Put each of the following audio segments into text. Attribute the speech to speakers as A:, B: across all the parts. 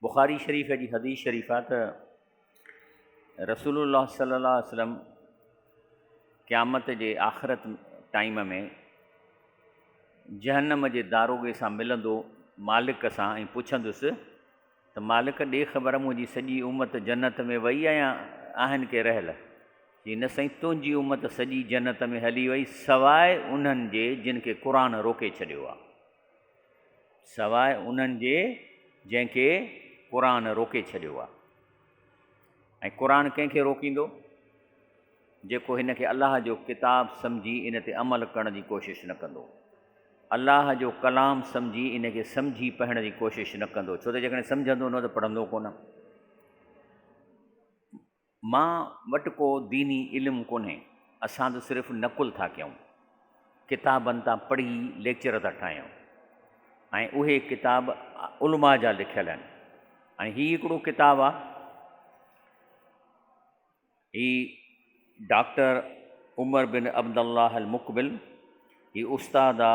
A: بخاري شريف جي حديث شريف آ ته رسول الله صلي الله عليه وسلم قيامت جي آخرت ٽائيم ۾ جهنم جي داروغي سان ملندو مالڪ سان ۽ پڇندس ته مالڪ ڏي خبر منهنجي سڄي امت جنت ۾ وئي آ يا آهن ڪي رهيل؟ چي نه سائين تنهنجي امت سڄي جنت ۾ هلي وئي سواء انهن جي جن کي قرآن روڪي ڇڏيو آ. سواء انهن جي جنهن کي قرآن روڪي ڇڏيو آهي ۽ قرآن ڪنهن کي روڪيندو جيڪو هن کي الله جو ڪتاب سمجهي ان تي عمل ڪرڻ جي ڪوشش نه ڪندو الله جو ڪلام سمجهي ان کي سمجهي پڙهڻ جي ڪوشش نه ڪندو ڇو ته جيڪڏهن سمجهندو نه ته پڙهندو ڪونه مان وٽ ڪو ديني علم ڪونهي، اسان ته صرف نقل ٿا ڪيون، ڪتابن تان پڙهي ليڪچر ٿا ٺاهيون ۽ اهي ڪتاب علماء جا لکيل آهن ۽ هي هڪڙو ڪتاب آ هي ڊاڪٽر عمر بن عبدالله المقبل هي استاد آ.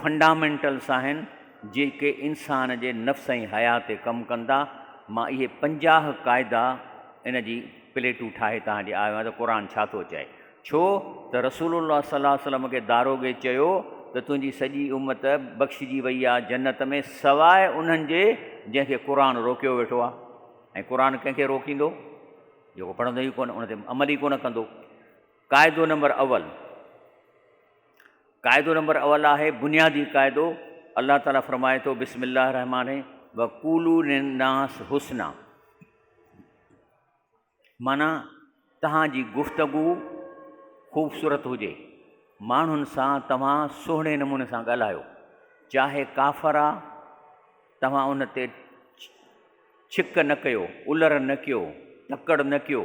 A: فنڊامينٽلس آهن جيڪي انسان جي نفس ۽ حيا تي ڪم ڪن ٿا مان اهي پنجاهه قاعدا ان جي پليٽون ٺاهي توهان ڏي آيو آهيان ته قرآن ڇا ٿو چئي ڇو ته رسول الله صلي الله وسلم کي داروغي چيو ته تنهنجي سڄي امت بخشجي وئي آهي جنت ۾ سواء انهن جي جنهن کي قرآن روڪيو ويٺو آهي ۽ قرآن ڪنهن کي روڪيندو جيڪو پڙهندو ئي ڪونه ان تي عمل ئي ڪونه ڪندو قاعدو نمبر اول قاعدو نمبر اول آهي بنيادي قاعدو، الله تعالي فرمائي ٿو بسم الله الرحمٰن وقولوا للناس حسنا معنيٰ توهان جي گفتگو خوبصورت هجي، ماڻهن سان توهان سهڻي نموني سان ڳالهايو، چاهي ڪافر آ، توهان ان تي ڇڪ نه ڪيو، الر نه ڪيو، تڪڙ نه ڪيو،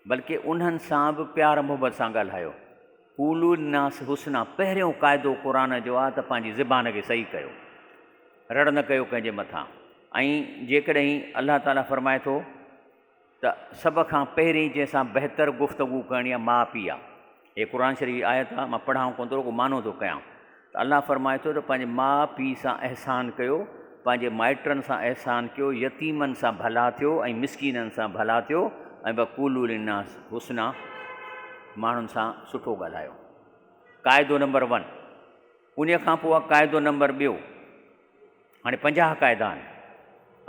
A: بلڪ انهن سان به پيار محبت سان ڳالهايو. قولوا للناس حسنا پهريون قاعدو قرآن جو آهي ته پنهنجي زبان کي صحيح ڪيو. رڙ نه ڪيو ڪنهن جي مٿان ۽ جيڪڏهن الله تعاليٰ فرمائي ٿو. ته سڀ کان پهرين جنهن سان بهتر گفتگو ڪرڻي آهي ماء پيء آهي. هيء قرآن شريف جي آيت آهي، مان پڙهان ڪونه ٿو رڳو معنو ٿو ڪيان ته الله فرمائي ٿو ته پنهنجي ماء پيء سان احسان ڪيو، پنهنجي مائٽن سان احسان ڪيو، يتيمن سان ڀلا ٿيو ۽ مسڪينن سان ڀلا ٿيو ۽ وقولوا للناس حسنا ماڻهن سان سٺو ڳالهايو. قاعدو نمبر ون. انهيء کان پوء قاعدو نمبر ٻيو. هاڻي پنجاهه قاعدا آهن.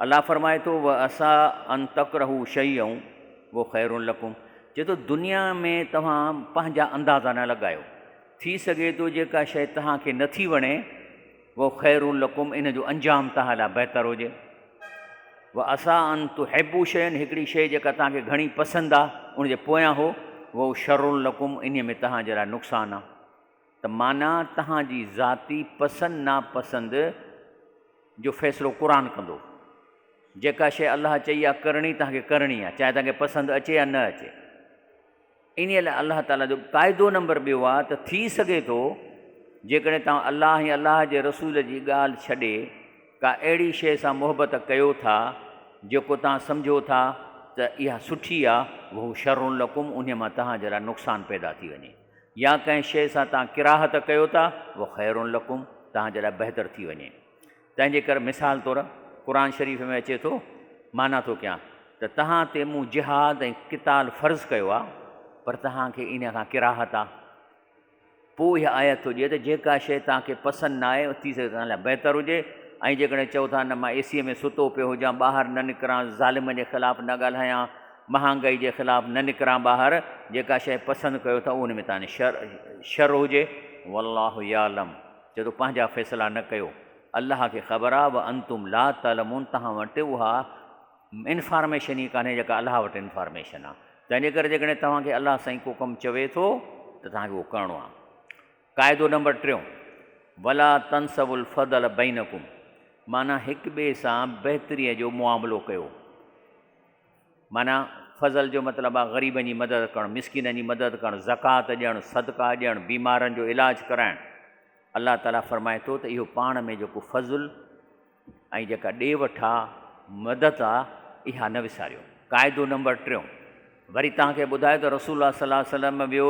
A: الله فرمائي ٿو، وعسي ان تڪرهو شيئا وهو خير لڪم، چئي ٿو دنيا ۾ توهان پنهنجا اندازا نه لڳايو، ٿي سگهي ٿو جيڪا شيء توهان کي نه ٿي وڻي، وهو خير لڪم، ان جو انجام توهان لاء بهتر هجي. وعسي ان تحبو شيئا، هڪڙي شيء جيڪا توهان کي گهڻي پسند آهي، ان جي پويان هو، وهو شر لڪم، انهيء ۾ توهان جي لاء نقصان آهي. ته معنيٰ تهان جي ذاتي پسند ناپسند جو فيصلو قرآن ڪندو. جيڪا شيء الله چئي آهي ڪرڻي تهان کي ڪرڻي آهي چاهي تهان کي پسند اچي يا نه اچي. انهيء لاء الله تعاليٰ جو قاعدو نمبر ٻيو آهي ته ٿي سگهي ٿو جيڪڏهن توهان الله ۽ الله جي رسول جي ڳالهه ڇڏي ڪا اهڙي شيء سان محبت ڪيو ٿا جيڪو توهان سمجهو ٿا ته اها سٺي آهي وهو شرّ لڪم انهيء مان توهان جي لاء نقصان پيدا ٿي وڃي. يا ڪنهن شيء سان توهان ڪراهت ڪيو ٿا، هو خير لڪم، توهان جي لاء بهتر ٿي وڃي. تنهنجي ڪري مثال طور قرآن شريف ۾ اچي ٿو، معنيٰ ٿو ڪيان ته توهان تي مون جهاد ۽ قتال فرض ڪيو آهي، پر توهان کي انهيء کان ڪراهت آهي. پوء اها آيت هجي ته جيڪا شيء توهان کي پسند نه آهي، ٿي سگهي توهان لاء بهتر هجي ۽ جيڪڏهن چئو ٿا نه مان اي سيء ۾ ستو پيو هجان، ٻاهر نه نڪران، ظالمن جي خلاف نه ڳالهايان، مهانگائي جي خلاف نه نڪران ٻاهر جيڪا شيء پسند ڪيو ٿا اهو ان ۾ تاني شر شر هجي والله يعلم چئي ٿو پنهنجا فيصلا نه ڪيو الله کي خبر آهي وانتم لا تعلمون توهان وٽ اها انفارميشن ئي ڪانهي جيڪا الله وٽ انفارميشن آهي تنهنجي ڪري جيڪڏهن توهان کي الله سائين ڪو ڪم چوي ٿو ته توهان کي اهو ڪرڻو آهي قاعدو نمبر ٽيون ولا تنسو الفضل بينڪم معنيٰ هڪ ٻئي سان بهتريء جو معاملو ڪيو معنيٰ، فضل جو مطلب آ غريبن جي مدد ڪرڻ، مسڪينن جي مدد ڪرڻ، زڪوات ڏيڻ، صدقا ڏيڻ، بيمارن جو علاج ڪرائڻ. الله تعاليٰ فرمائي ٿو ته اهو پاڻ ۾ جيڪو فضل ۽ جيڪا ڏي وٺ آ، مدد آ، اها نه وساريو. قاعدو نمبر ٽيون، وري توهان کي ٻڌائي ته رسول الله صلي الله عليه وسلم ويو،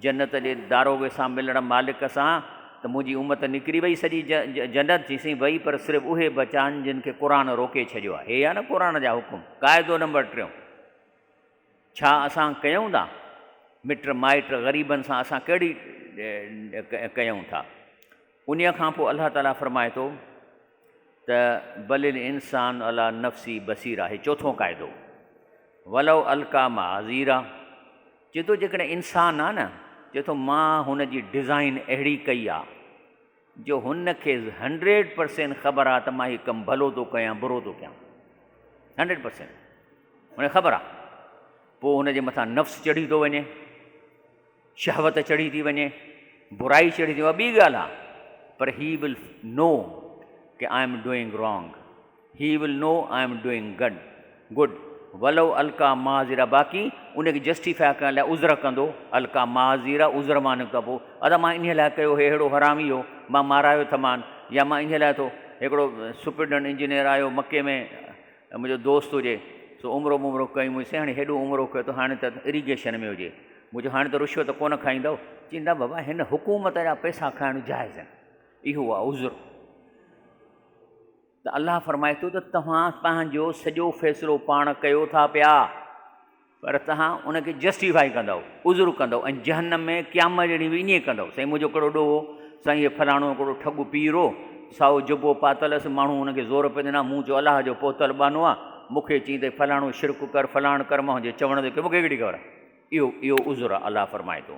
A: جنت جي داروغي سان ملڻ مالڪ سان ته منهنجي امت نڪري وئي سڄي جنت چي سائين وئي پر صرف اهي بچا آهن جن کي قرآن روڪي ڇڏيو آهي هي آهي نه قرآن جا حڪم قاعدو نمبر ٽيون ڇا اسان ڪيون ٿا مٽ مائٽ غريبن سان اسان ڪهڙي ڪيون ٿا انهيء کان پوء الله تعاليٰ فرمائي ٿو ته بل الانسان علي نفسه بصيرا هي چوٿون قاعدو ولو القا معاذيرا چي ٿو جيڪڏهن انسان آ نه چي ٿو مان هن جي ڊزائن اهڙي ڪئي آ جو هن کي هنڊريڊ پرسينٽ خبر آ ته مان هي ڪم ڀلو ٿو ڪيان برو ٿو ڪيان هنڊريڊ پرسينٽ هن خبر آ پوء هن جي مٿان نفس چڙهي ٿو وڃي شهوت چڙهي ٿي وڃي، برائي چڙهي ٿي اها ٻي ڳالهه آهي پر هي ول نو ڪي I am doing wrong he will know I am doing good good ولو القا معاذيرا باقي ان کي جسٽيفاء ڪرڻ لاء عذر ڪندو القا معاذيرا عذر مان نڪتا پو ادا مان انهي لاء ڪيو هي ههڙو حرامي هو مان مارايو ٿمان يا مان انهي لاء ٿو هڪڙو سپريڊنٽ انجنيئر آيو مڪي ۾ ته منهنجو دوست هجي، سو عمرو ممرو ڪيائين. منهنجي سياڻي هيڏو عمرو ڪيو ته هاڻي ته اريگيشن ۾ هجي. مون چيو، هاڻي ته رشوت ڪونه کائيندؤ؟ چين نه بابا، هن حڪومت جا پئسا کائڻ جائز آهن. اهو آهي عذر. ته الله فرمائي ٿو ته توهان پنهنجو سڄو فيصلو پاڻ ڪيو ٿا پيا. پر توهان ان کي جسٽيفائي ڪندؤ، عذر ڪندؤ ۽ جهنم ۾ قيامت جي ڏينهن به ائين ئي ڪندؤ، سائين منهنجو ڪهڙو ڏوهه، سائين هي فلاڻو ڪهڙو ٺڳو پير هو، سائو جبو پاتل هئس، ماڻهو هن کي زور پئي ڏنا، مون چيو الله جو پهتل ٻانهو آ، مون کي چئين ته فلاڻو شرڪ ڪر، فلاڻ ڪر، مان هنجي چوڻ تي ڪيو، مون کي ڪهڙي خبر آ، اهو اهو عذر آ، الله فرمائي ٿو.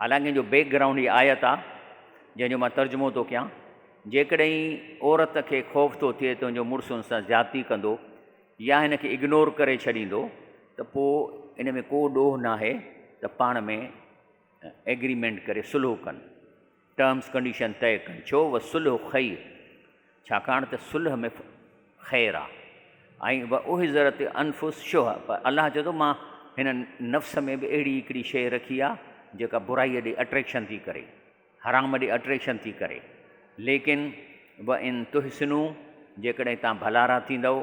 A: حالانڪ ان جو بيڪ گرائونڊ هي آيت آ جنهن جو مان ترجمو ٿو ڪيان، جيڪڏهن عورت کي خوف ٿو ٿئي ته ان جو مڙس ان سان زيادتي ڪندو يا هن کي اگنور ڪري ڇڏيندو ته پوء ان ۾ ڪو ڏوهه ناهي ته پاڻ ۾ ايگريمينٽ ڪري صلح ڪن، ٽرمز ڪنڊيشن طئي ڪن، ڇو وصلح خير. ڇاڪاڻ ته صلح ۾ خير آ. ۽ و احضرت الانفس شح پر الله چئي ٿو مان هن نفس ۾ به اهڙي هڪڙي شيء رکي آ جيڪا برائيء ڏي اٽريڪشن ٿي ڪري، حرام ڏي اٽريڪشن ٿي ڪري، ليڪن و ان تحسنو جيڪڏهن توهان ڀلارا ٿيندؤ،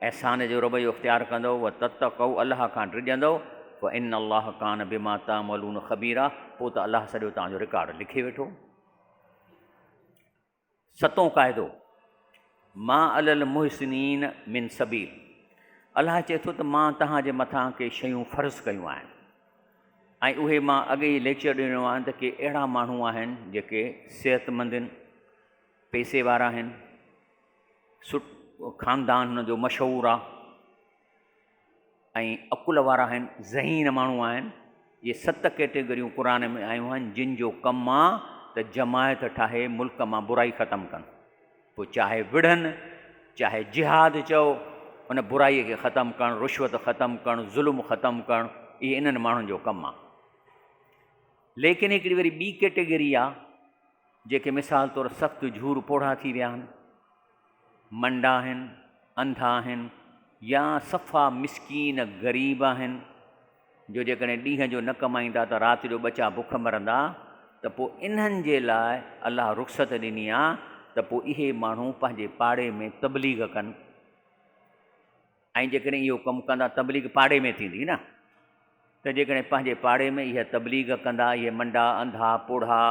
A: احسان جو رويو اختيار ڪندؤ، و تتقؤ الله کان ڊڄندؤ، فان الله ڪان بما تعملون خبيرا پوء ته الله سڄو توهان جو رڪارڊ لکي ويٺو. ستون قاعدو، ما علي المحسنين من سبيل، الله چئي ٿو ته مان توهان جي مٿان ڪي شيون فرض ڪيون آهن ۽ اهي مان اڳي ئي ليڪچر ڏنو آهن ته ڪي اهڙا ماڻهو آهن جيڪي صحتمند آهن، پئسي وارا آهن، سٺو خاندان هن جو مشهور آهي. ۽ عقل وارا آهن، ذهين ماڻهو آهن. اهي ست ڪيٽيگريون قرآن ۾ آيون آهن جن جو ڪم آ ته جماعت ٺاهي ملڪ مان برائي ختم ڪن. پوء چاهي وڙهن چاهي جهاد چئو ان برائي کي ختم ڪرڻ، رشوت ختم ڪرڻ، ظلم ختم ڪرڻ اهي انهن ماڻهن جو ڪم آ. ليڪن هڪڙي وري ٻي ڪيٽيگري آ جيڪي مثال طور سخت جهور پوڙها ٿي ويا آهن. منڊا آهن، انڌا آهن يا صفا مسڪين غريب آهن جو جيڪڏهن ڏينهن جو نه ڪمائيندا ته رات جو ٻچا بک مرندا ته پوء انهن جي لاء الله رخصت ڏني آهي ته پوء اهي ماڻهو پنهنجي پاڙي ۾ تبليغ ڪن ۽ جيڪڏهن اهو ڪم ڪندا تبليغ پاڙي ۾ ٿيندي نه ته جيڪڏهن پنهنجي پاڙي ۾ اهي تبليغ ڪندا اهي منڊا انڌا پوڙها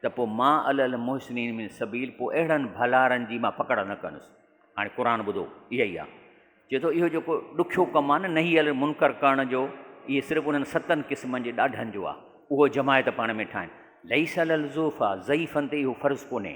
A: ته پوء ما علي المحسنين من سبيل پوء اهڙن ڀلارن جي مان پڪڙ نه ڪندس هاڻي قرآن ٻڌو اها ئي آهي چئي ٿو اهو جيڪو ڏکيو ڪم آهي نه نهي المنڪر ڪرڻ جو اهي صرف انهن ستن قسمن جي ڏاڍن جو آهي اهو جماعت پاڻ ۾ ٺاهن ليس على الزوفا ضعيفن تي اهو فرض ڪونهي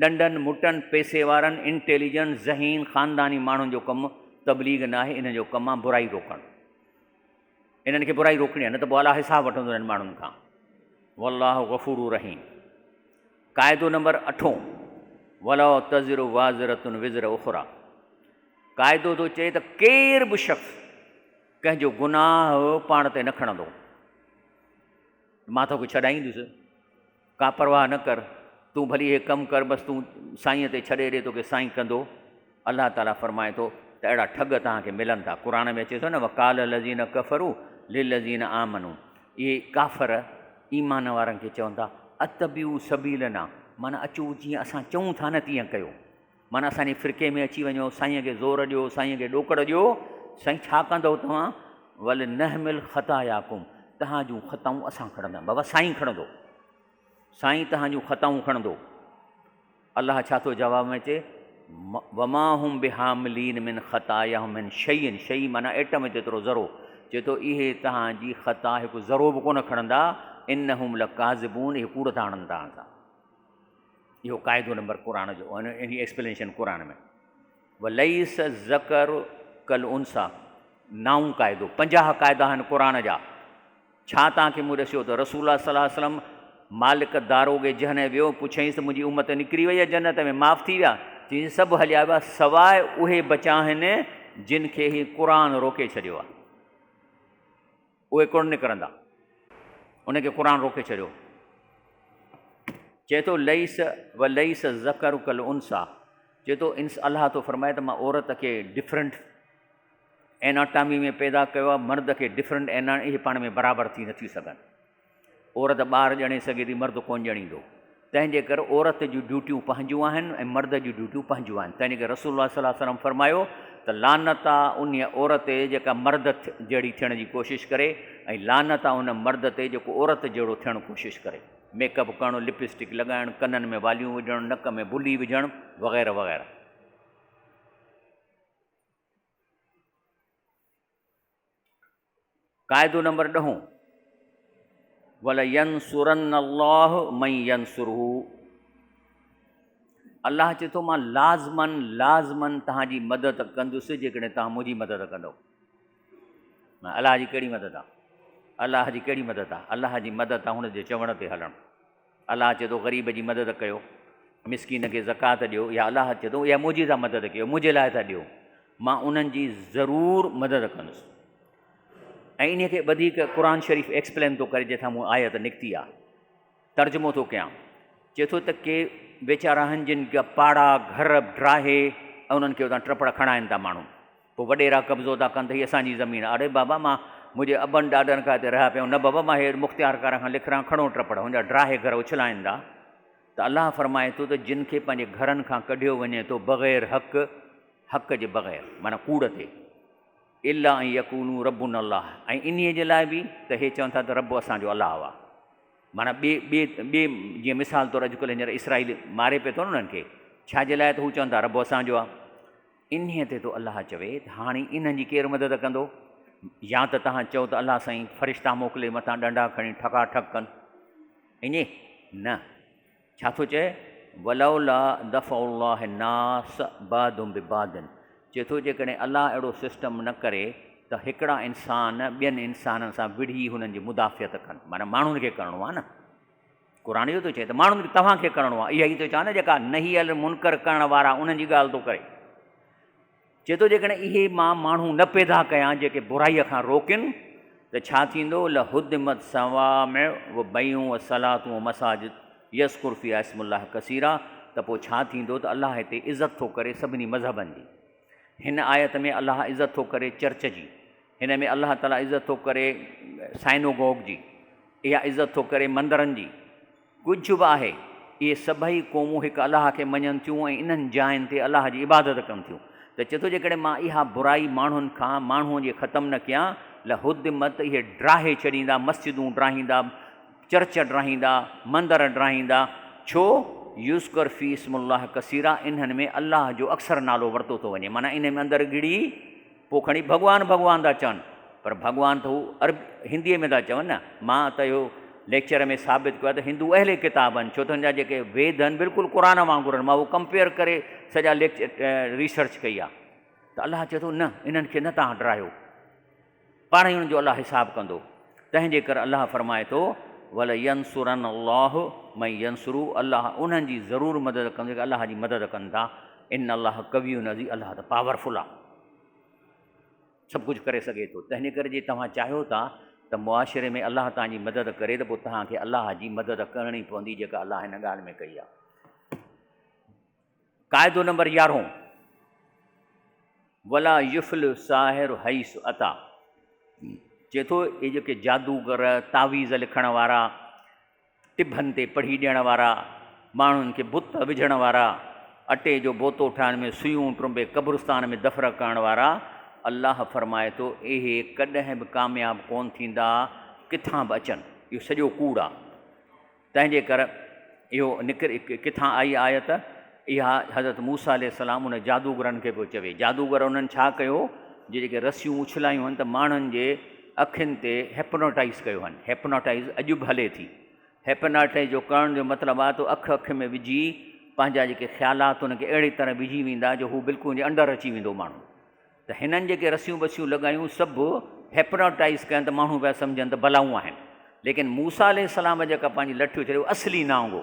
A: ڏنڊن، مٽن، پئسي وارن، انٽيليجنٽ، ذهين، خانداني ماڻهن جو ڪم تبليغ ناهي، انهن جو ڪم آ برائي روڪڻ. انهن کي برائي روڪڻي آ نه ته پوء الله حساب وٺندو انهن ماڻهن کان. والله غفور رحيم. قاعدو نمبر اٺون ولا تزر وازرة وزر اخرى قاعدو ٿو چئي ته ڪير به شخص ڪنهن جو گناهه پاڻ تي نه کڻندو، مان توکي ڇڏائيندس. ڪا پرواهه نه ڪر، تون ڀلي هي ڪم ڪر، بس تون سائينء تي ڇڏي ڏي، توکي سائين ڪندو. الله تعاليٰ فرمائي ٿو ته اهڙا ٺڳ توهان کي ملن ٿا. قرآن ۾ اچي ٿو نه وقال الذين كفروا للذين آمنوا اهي ڪافر ايمان وارن کي چون ٿا اتبعوا سبيلنا معنيٰ اچو جيئن اسان چئون ٿا نه تيئن ڪيو. معنيٰ اسان جي فرقي ۾ اچي وڃو، سائينء کي زور ڏيو، سائينء کي ڏوڪڙ ڏيو، سائين ڇا ڪندؤ توهان، ولنحمل خطاياڪم، توهان جون خطائون اسان کڻنداسين، بابا سائين کڻندو، سائين توهان جون خطائون کڻندو، الله ڇا ٿو جواب ۾ چئي، وما هم بحاملين من خطاياهم من شيء، شيء معنيٰ ايٽم جيترو ذرو، چئي ٿو اهي توهان جي خطا هڪ ذرو به ڪونه کڻندا، انهم لڪاذبون، اهي ڪوڙ ٿا هڻن توهان سان. اهو قاعدو نمبر قرآن جو ان جي ايڪسپلينيشن قرآن ۾ وليس الذڪر کالانثيٰ نائون قاعدو پنجاهه قاعدا آهن قرآن جا ڇا توهان کي مون ڏسيو ته رسول الله صلي الله عليه وسلم مالڪ داروغي جنهن ويو پڇيائينس ته منهنجي امت نڪري وئي آهي جنت ۾ معاف ٿي ويا چيائينس سڀ هليا ويا سواء اهي بچا آهن جن کي هي قرآن روڪي ڇڏيو آهي اهي ڪونه نڪرندا. ان کي قرآن روڪي ڇڏيو. چئي ٿو ليس و ليس الذڪر کالانثيٰ چئي ٿو انس الله ٿو فرمائي ته مان عورت کي ڊفرنٽ ايناٽامي ۾ پيدا ڪيو آهي مرد کي ڊفرنٽ اينا اهي پاڻ ۾ برابر ٿي نه ٿي سگهن. عورت ٻار ڄڻي سگهي ٿي، مرد ڪونه ڄڻيندو. تنهن جي ڪري عورت جون ڊيوٽيون پنهنجون آهن ۽ مرد جون ڊيوٽيون پنهنجون آهن. تنهن جي ڪري رسول الله صلي وسلم فرمايو ته لعنت آ انهيء عورت تي جيڪا مرد جهڙي ٿيڻ جي ڪوشش ڪري ۽ لعنت آ ان مرد تي جيڪو عورت جهڙو ٿيڻ ڪوشش ڪري. ميڪ اپ ڪرڻ، لپ اسٽڪ لڳائڻ، ڪنن ۾ واليون وجهڻ، نڪ ۾ بلي وجهڻ وغيره وغيره. قاعدو نمبر ڏهون، ولينصرن الله من ينصره الله چي ٿو مان لازمن لازمن توهان جي مدد ڪندس جيڪڏهن توهان منهنجي مدد ڪندو الله جي ڪهڙي مدد آ الله جي ڪهڙي مدد آ الله جي مدد آ هن جي چوڻ تي هلڻ الله چي ٿو غريب جي مدد ڪيو، مسڪين کي زڪوات ڏيو يا الله چي ٿو اها منهنجي ٿا مدد ڪيو منهنجي لاء ٿا ڏيو مان انهن جي ضرور مدد ڪندس ۽ انهي کي وڌيڪ قرآن شريف ايڪسپلين ٿو ڪري جتان مون آيت نڪتي آ ترجمو ٿو ڪيان چي ٿو ته ڪي ويچارا آهن جن جا پاڙا گهر ڊاهي ۽ انهن کي اتان ٽپڙ کڻائين ٿا ماڻهو پوء وڏيرا قبضو ٿا ڪن ته هي اسان جي زمين آ. اڙي بابا مان منهنجي ابن ڏاڏن کان هتي رهيا پيا آهيون. نه بابا مان هيء مختيارڪارن کان لکران کڻو ٽپڙ هن جا ڊاهي گهر اڇلائيندا ته الله فرمائي ٿو ته جن کي پنهنجي گهرن کان ڪڍيو وڃي ٿو بغير حق، حق جي بغير معنيٰ ڪوڙ تي، الا ان يقولو ربنا الله ۽ انهيء جي لاء به ته هي چون ٿا ته رب اسان جو الله آ. معنيٰ ٻي، ٻي، ٻي جيئن مثال طور اڄڪلهه هينئر اسرائيل ماري پيو ٿو نه انهن کي ڇا جي لاء ته هو چون ٿا رب اسان جو آ. انهيء تي تو الله چوي ته هاڻي انهن جي ڪير مدد ڪندو؟ يا ته توهان چئو ته الله سائين فرشتا موڪلي مٿان ڏنڊا کڻي ٺڪا ٺڪ ڪن. اڃي نه ڇا ٿو چئي ولولا دفع الله الناس بعضهم ببعض چئي ٿو جيڪڏهن الله اهڙو سسٽم نه ڪري ته هڪڙا انسان ٻين انسانن سان وڙهي هنن جي مدافعت ڪن معنيٰ ماڻهن کي ڪرڻو آهي نه. قرآن اهو ٿو چئي ته ماڻهن کي توهان کي ڪرڻو آهي، اها ئي ٿو چوان نه جيڪا نهي المنڪر ڪرڻ وارا انهن جي ڳالهه ٿو ڪري. چئي ٿو جيڪڏهن اهي مان ماڻهو نه پيدا ڪيان جيڪي برائيء کان روڪين ته ڇا ٿيندو، لهدمت صوامع وبيعون وصلات ومساجد يذڪر فيها اسم الله ڪثيرا ته پوء ڇا ٿيندو ته الله هتي عزت ٿو ڪري سڀني مذهبن جي. هن آيت ۾ الله عزت ٿو ڪري چرچ جي. هن ۾ الله تعاليٰ عزت ٿو ڪري سائنوگوگ جي، اها عزت ٿو ڪري مندرن جي. ڪجهه به آهي، اهي سڀئي قومون هڪ الله کي مڃن ٿيون ۽ انهن جاين تي الله جي عبادت ڪن ٿيون. ته چئي ٿو جيڪڏهن مان اها برائي ماڻهن کان، ماڻهوء جي، ختم نه ڪيان، لهدمت، اهي ڊاهي ڇڏيندا، مسجدون ڊاهيندا، چرچ ڊاهيندا، مندر ڊاهيندا، ڇو، يذڪر في اسم الله ڪثيرا، انهن ۾ الله جو اڪثر نالو ورتو ٿو وڃي، معنيٰ انهن ۾ اندر ڳڙي، پوء کڻي ڀڳوان ڀڳوان ٿا چون. پر ڀڳوان ته هو عرب هنديء ۾ ٿا چون نه. مان ته اهو ليڪچر ۾ ثابت ڪيو آهي ته هندو اهل ڪتاب آهن ڇو ته هن جا جيڪي ويد آهن بلڪل قرآن وانگر آهن. مان اهو ڪمپيئر ڪري سڄا ليڪچر ريسرچ ڪئي آهي ته الله چئي ٿو نه انهن کي نه تهان ڊرايو پاڻ ئي انهن جو الله حساب ڪندو. تنهن جي ڪري الله فرمائي ٿو ولينصرن الله من ينصره الله انهن جي ضرور مدد ڪندو جيڪي الله جي مدد ڪن ٿا. ان الله قوي عزيز الله ته پاورفل آ سڀ ڪجهه ڪري سگهي ٿو تنهن ڪري جي توهان چاهيو ٿا ته معاشري ۾ الله تان جي مدد ڪري ته پوء توهان کي الله جي مدد ڪرڻي پوندي جيڪا الله هن ڳالهه ۾ ڪئي آهي قاعدو نمبر يارهون ولا يفل ساحر حيث عطا چي ٿو اي جيڪي جادوگر تعويذ لکڻ وارا ٽڀن تي پڙهي ڏيڻ وارا، ماڻهن کي بت وجهڻ وارا، اٽي جو بوتو ٺاهڻ ۾ سوئون ٽرنبي قبرستان ۾ دفن ڪرڻ وارا، الله فرمائي ٿو اهي ڪڏهن به ڪامياب ڪونه ٿيندا ڪٿان به اچن اهو سڄو ڪوڙ آ تنهنجي ڪر اهو نڪري ڪٿان آئي آيت. اها حضرت موسيٰ عليه السلام انهن جادوگرن کي پيو چوي. جادوگر انهن ڇا ڪيو جو جيڪي رسيون اڇلايون هن ته ماڻهن جي اکين تي هپناٽائز ڪيو هن. هپناٽائز اڄ به هلي ٿي. هپناٽائز جو ڪرڻ جو مطلب آهي تو اک اک ۾ وجهي پنهنجا جيڪي خيالات ان کي اهڙي طرح وجهي ويندا جو هو بلڪل ان جي انڊر اچي ويندو ماڻهو. ته هنن جيڪي رسيون بسيون لڳايون سڀ هپناٽائز ڪيا ته ماڻهو پيا سمجهن ته بلائون آهن. ليڪن موسيٰ عليه السلام جيڪا پنهنجي لٺيو ڇڏيو اصلي نانگ هو.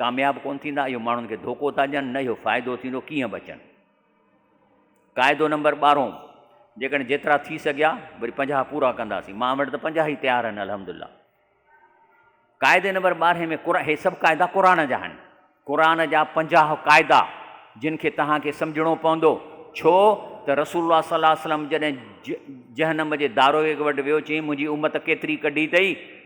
A: ڪامياب ڪونه ٿيندا اهو ماڻهن کي ڌوڪو ٿا ڏين نه اهو فائدو ٿيندو ڪيئن بچن قاعدو نمبر ٻارهون جيڪڏهن جيترا ٿي سگهيا وري پنجاهه پورا ڪنداسين مان وٽ ته پنجاهه ئي تيار آهن الحمد لله قاعدي نمبر ٻارهين ۾ قرآن هي سڀ قاعدا قرآن جا آهن قرآن جا پنجاهه قاعدا جن کي توهان کي سمجھڻو پوندو ڇو ته رسول الله صلي الله وسلم جڏهن جهنم جي دارويگ وٽ ويو چيائين منهنجي امت ڪيتري ڪڍي اٿئي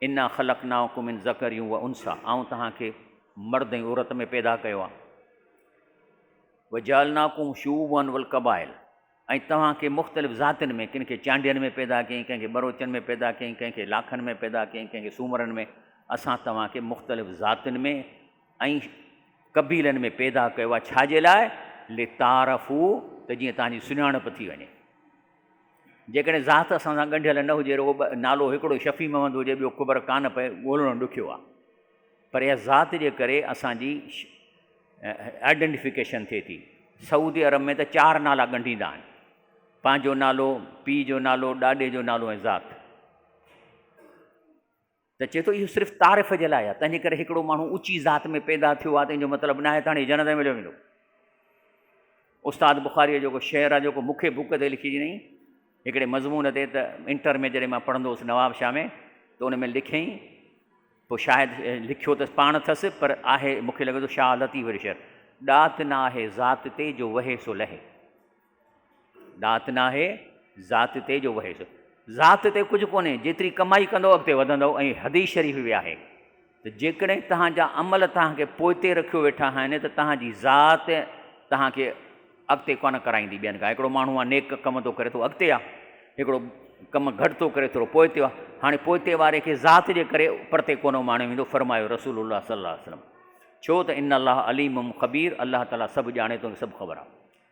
A: انا خلقناکم من ذکر و انثی، آئون توهان کي مرد ۽ عورت ۾ پيدا ڪيو آهي. وجعلناکم شعوبا والقبائل، ۽ توهان کي مختلف ذاتين ۾ ڪن کي چانڊين ۾ پيدا ڪيائين، ڪنهن کي ٻروچن ۾ پيدا ڪيائين، ڪنهن کي لاکن ۾ پيدا ڪيائين، ڪنهن کي سومرن ۾، اسان توهان کي مختلف ذاتين ۾ ۽ قبيلن ۾ پيدا ڪيو آهي، ڇا جي لاء، لتعارفوا، ته جيئن توهان جي سڃاڻپ ٿي وڃي. جيڪڏهن ذات اسان سان ڳنڍيل نه هجي، رڳو نالو هڪڙو شفيع محمد هجي، ٻيو خبر ڪانه پئي، ڳولڻو ڏکيو آهي. پر اها ذات جي ڪري اسان جي آئيڊنٽيفڪيشن ٿئي ٿي. سعودي عرب ۾ ته چار نالا ڳنڍيندا آهن، پنهنجو نالو، پيء جو نالو، ڏاڏي جو نالو ۽ ذات. ته چئي ٿو اهو صرف تعارف جي لاء آهي، تنهنجي ڪري هڪڙو ماڻهو اوچي ذات ۾ پيدا ٿيو آهي ته ان جو مطلب ناهي ته هاڻي جنت ۾ هليو ويندو. استاد بخاريء جو ڪو شعر آهي جيڪو مون کي بوڪ تي لکي ڏنئين هڪڙي مضمون تي ته انٽر ۾ جڏهن مان پڙهندو هوس نواب شاهه ۾ ته ان ۾ لکيائين پوء شايد لکيو ته پاڻ اٿس پر آهي مون کي لڳي ٿو شاهه لطيف جو شعر ڏات نه آهي ذات تي جو وهي سو لهي. ڏات ناهي ذات تي جو وهيس. ذات تي ڪجهه ڪونهي، جيتري ڪمائي ڪندؤ اڳتي وڌندؤ ۽ حديث شريف به آهي ته جيڪڏهن توهان جا عمل توهان کي پوئتي رکيو ويٺا آهن ته توهان جي ذات توهان کي اڳتي ڪونه ڪرائيندي ٻين کان. هڪڙو ماڻهو آ نيڪ ڪم ٿو ڪري ٿو اڳتي آ، هڪڙو ڪم گهٽ ٿو ڪري ٿورو پوئتي آ، هاڻي پوئتي واري کي ذات جي ڪري پرتي ڪونه ماڻيو ويندو فرمايو رسول الله صلي الله عليه وسلم ڇو ته ان الله عليم خبير الله تعالي سڀ ڄاڻي ٿو سڀ خبر آ.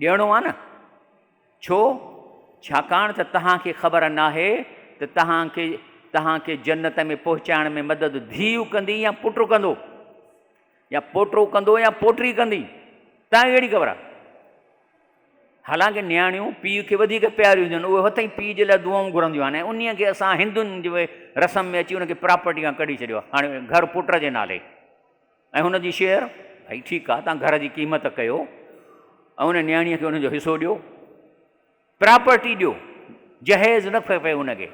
A: ڏيڻو آهي نه؟ ڇو؟ ڇاڪاڻ ته توهان کي خبر ناهي ته توهان کي توهان کي جنت ۾ پهچائڻ ۾ مدد ڌيء ڪندي يا پٽ ڪندو يا پوٽو ڪندو يا پوٽي ڪندي توهان کي ڪهڙي خبر آهي؟ حالانڪ نياڻيون پيء کي وڌيڪ پياريون هونديون آهن اهي هت ئي پيء جي لاء دعائون گهرنديون آهن ۽ انهيء کي اسان هندن جي رسم ۾ اچي ان کي پراپرٽي کان ڪڍي ڇڏيو آهي هاڻي گهر پٽ جي نالي ۽ هن جي شيئر، ڀئي ٺيڪ آ، توهان گهر جي قيمت ڪيو ۽ ان نياڻيء کي ان جو حصو ڏيو، پراپرٽي ڏيو، جهيز نه کپي ان کي.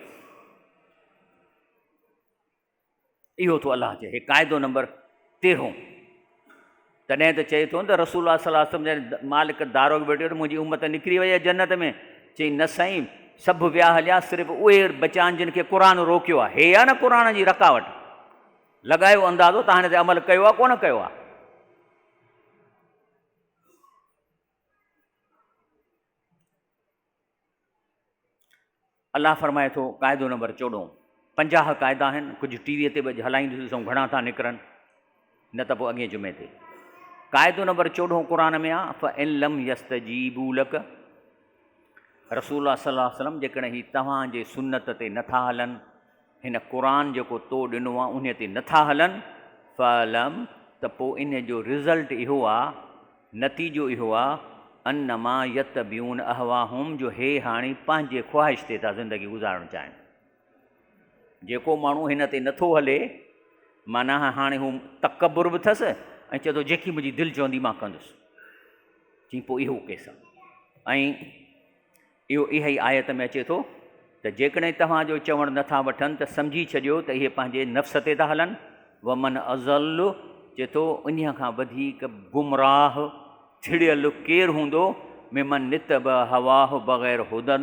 A: اهو ٿو الله چئي، هي قاعدو نمبر تيرهون. تڏهن ته چئي ٿو نه ته رسول الله صلي الله عليه وسلم جڏهن مالڪ دارو به ويٺو ته منهنجي امت نڪري وئي آهي جنت ۾، چئي نه سائين، سڀ ويا هليا، صرف اهي بچيا آهن جن کي قرآن روڪيو آهي، هي آ نه قرآن جي رڪاوٽ. لڳايو اندازو تان هن تي عمل ڪيو آهي ڪونه ڪيو آهي. الله فرمائي ٿو قاعدو نمبر چوڏهون پنجاهه قاعدا آهن ڪجهه ٽي وي تي به اڄ هلائيندو ڏسون گهڻا ٿا نڪرن نه ته پوء اڳين جمعي تي قاعدو نمبر چوڏهون قرآن ۾ آ فن لم يست جي بولڪ رسول الله صلي الله عليه وسلم جيڪڏهن هي توهان جي سنت تي نٿا هلن هن قرآن جيڪو تو ڏنو آ انهي تي نٿا هلن فاعلم ته پوء انهي جو رزلٽ اهو آ نتيجو اهو آ انما يتبعون اهواهم جو هي هاڻي پنهنجي خواهش تي ٿا زندگي گذارڻ چاهين جيڪو ماڻهو هن تي نٿو هلي معنيٰ هاڻي هو تڪبر به ٿس ۽ چئي ٿو جيڪي منهنجي دل چوندي مان ڪندس چي پوء اهو ڪيس ۽ اهو اها ئي آيت ۾ اچي ٿو ته جيڪڏهن توهان جو چوڻ نه ٿا وٺن ته سمجهي ڇڏيو ته اهي پنهنجي نفس تي ٿا هلن، ومن اضل چئي ٿو انهيء کان وڌيڪ گمراهه، ٿڙيل، ڪير هوندو ممن اتبع هواه بغير هدًا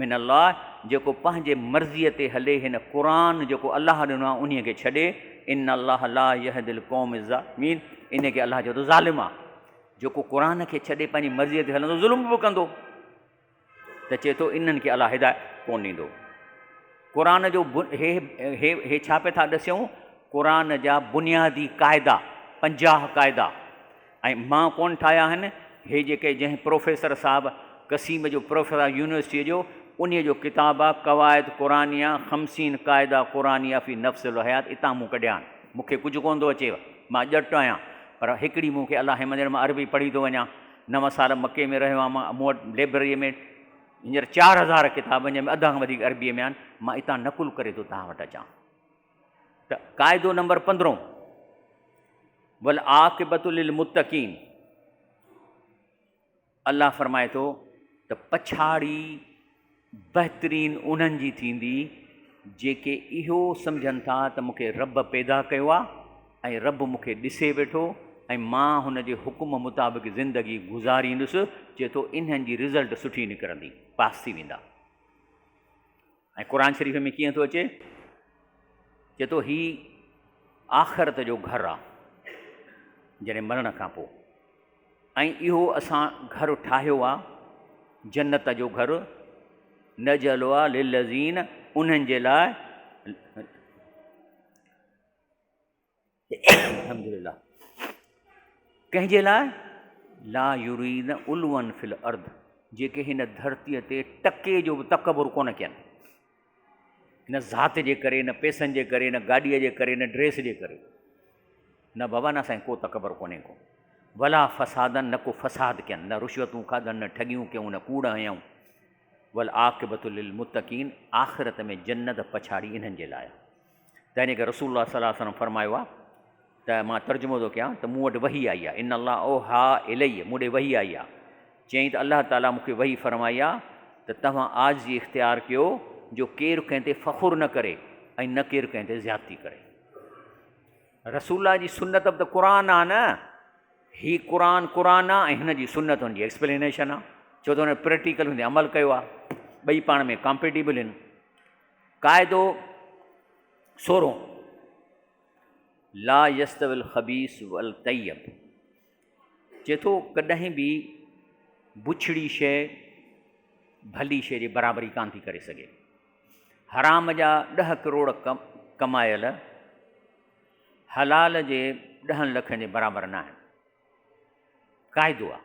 A: من الله جيڪو پنهنجي مرضيء تي هلي هن قرآن جيڪو الله ڏنو آهي انهيء کي ڇڏي، ان الله لا يهدي القوم الظالمين انهيء کي الله چئي ٿو ظالم آ. جيڪو قرآن کي ڇڏي پنهنجي مرضيء تي هلندو ظلم به ڪندو ته چئي ٿو انهن کي الله هدايت ڪونه ڏيندو. قرآن جو هي هي هي ڇا پئي ٿا ڏسيون قرآن جا بنيادي قاعدا پنجاهه قاعدا ۽ مان ڪونه ٺاهيا آهن هي جيڪي جنهن پروفيسر صاحب قسيم جو پروفيسر آهي يونيورسٽيء جو انهيء جو ڪتاب آهي قواعد قرآنيه خمسين قاعده قرآنيه في نفس الحيات اتان مون ڪڍيا آهن. مون کي ڪجهه ڪونه ٿو اچي، مان ڄٽ آهيان، پر هڪڙي مون کي الاهي مندر مان عربي پڙهي ٿو وڃان. نو سال مڪي ۾ رهيو آهيان، مون وٽ لئبرريء ۾ هينئر چار هزار ڪتاب آهن، جنهن ۾ اڌ کان وڌيڪ عربيء ۾ آهن. مان اتان نقل ڪري ٿو توهان وٽ اچان. ته قاعدو نمبر پندرهون، والعاقبة للمتقين. الله فرمائي ٿو ته پڇاڙي بهترين انهن جي ٿيندي جيڪي اهو سمجهن ٿا ته مون کي رب پيدا ڪيو آهي ۽ رب مون کي ڏسي ويٺو ۽ مان هن جي حڪم مطابق زندگي گذاريندس چئي ٿو انهن جي رزلٽ سٺي نڪرندي پاس ٿي ويندا ۽ قرآن شريف ۾ ڪيئن ٿو اچي؟ چئي ٿو هي آخرت جو گهر آ جڏهن مرڻ کان پوء ۽ اهو اسان گهر ٺاهيو آ جنت جو گهر نجعلها للذين انهن جي لاء الحمدلله ڪنهن جي لاء لا يرين علوا في الارض جيڪي هن ڌرتي تي ٽڪي جو به تڪبر ڪونه ڪين نه ذات جي ڪري نه پيسن جي ڪري نه گاڏيء جي ڪري نه ڊريس جي ڪري نه بابا نه سائين ڪو تڪبر ڪونهي ڪو ولا فسادن نه کو فساد ڪين نه رشوتون کاڌن نه ٺڳيون ڪيون نه ڪوڙ هنيون ول عاقبت للمتقين آخرت ۾ جنت پڇاڙي انهن جي لاء تنهن ڪري رسول الله صلي الله عليه وسلم فرمايو آهي ته مان ترجمو ٿو ڪيان ته مون وٽ وحي آئي آهي، ان الله اوحٰي الي، مون ڏي وحي آئي آهي، چيائين ته الله تعاليٰ مون کي وحي فرمائي آهي ته توهان عاجزي اختيار ڪيو جو ڪير ڪنهن تي فخر نه ڪري ۽ نه ڪير ڪنهن تي زيادتي ڪري. رسول الله جي سنت به ته قرآن آهي نه، هي قرآن قرآن آهي ۽ هن جي سنت هن جي ايڪسپلينيشن آهي، ڇو ته هن پريڪٽيڪل هن تي عمل ڪيو آهي، ٻئي پاڻ ۾ ڪامپيٽيبل آهن. قاعدو سورهون، لا يستوي الخبيث والطيب، چئي ٿو ڪڏهن به بڇڙي شيء ڀلي شيء جي برابري ڪانه ٿي ڪري سگهي. حرام جا ڏهه ڪروڙ ڪمايل حلال جي ڏهن لکن جي برابر ناهن. قاعدو آهي.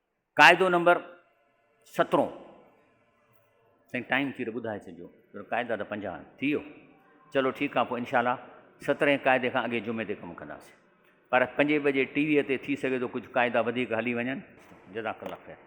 A: قاعدو نمبر سترهون سائين ٽائيم ٿي ته ٻڌائي ڇڏجو پر قاعدا ته پنجاهه آهن ٿي ويو چلو ٺيڪ آهي پوء انشاء الله سترهين قاعدي کان اڳي جمعي تي ڪم ڪنداسين پر پنجين بجي ٽي ويء تي ٿي سگهي ٿو ڪجهه قاعدا وڌيڪ هلي وڃن جزاڪ الله خير